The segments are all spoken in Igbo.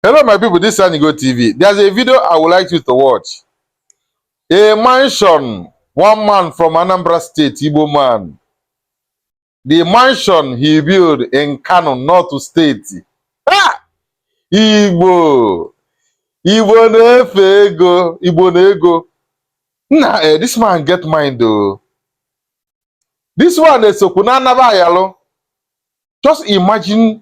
Hello, my people. This is Anigo TV. There's a video I would like you to watch. A mansion, one man from Anambra State, Igbo man. The mansion he built in Kano, North State. Ah! Igbo! Igbo na-efe ego, Igbo na ego. Nna, eh, this man get mind though. This one esokwu na anaba ayalụ. Just imagine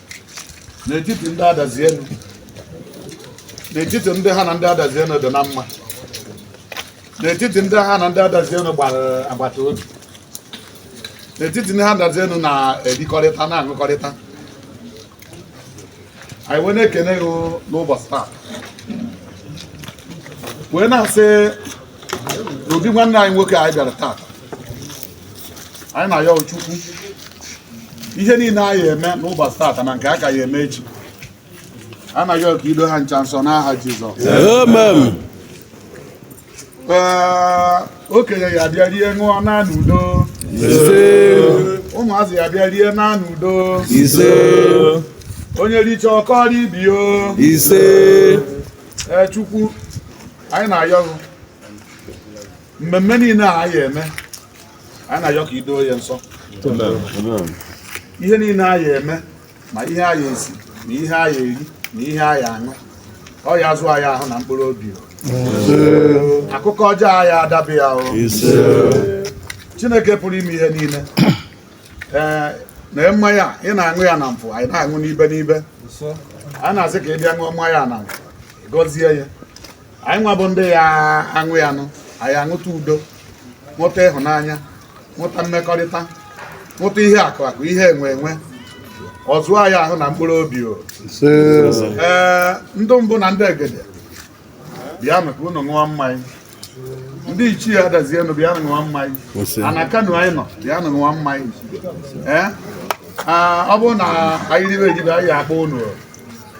n'etiti ndị Adazi-Enu n'etiti ndị ha na ndị Adazi-Enu dị na mma n'etiti ndị ha na ndị Adazi-Enu gbara agbata obi n'etiti ndị ha Adazi-Enu na-erikọrịta na-aṅụkọrịta anyị wee na-ekene gị n'ụbọchị taa wee na-asị n'obi nwanne anyị nwoke anyị bịara taa anyị na-ayọ Chukwu ihe niile a ya eme n'ụbọchị taata na nke a ka ya eme echi anyị na-ayọ ka i doo ha ncha nsọ n'aha Jizọs okenye ya bịa rie ṅụọ naa n'udo ụmụazị ya bịa rie naa n'udo onye richaa ọ kọọrọ ibe ya o ise Chukwu anyị na-ayọ mmemme niile a a ya eme anyị na-ayọ ka i doo ya nsọ ihe niile a ya eme ma ihe a ya esi ma ihe a ya eri na ihe a ya aṅụ ọ ya azụ anyị ahụ na mkpụrụ obi akụkọ ọjọọ aya adaba ya o chineke pụrụ ime ihe niile ee na mmanya ị na-aṅụ ya na mpụ anyị na-aṅụ n'ibe n'ibe anyị na-asị ka ị bịa ṅụọ mmanya na mpụ gọzie ya anyị nwa bụ ndị ya aṅụ ya nụ anyị aṅụta udo ṅụta ịhụnanya ṅụta mmekọrịta ṅụta ihe akụ akụ ihe enwe enwe ọ zụọ anyị ahụ na mkpụrụ obi o ee ndị mbụ na ndị egede bịanụ ka unu ṅụọ mmanya ndị ichie Adazi-Enu bịa ṅụọ mmanya ana Kano anyị nọ bịa ṅụọ mmanya ee ọ bụrụ na anyị ribe ejibe anyị akpọ unu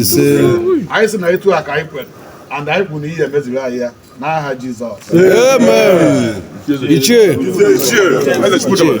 ise anyị sị na etu a ka anyị kwere and anyị kwuru na ị ya emeziri anyị ya n'aha Jizọs amen ichie ichie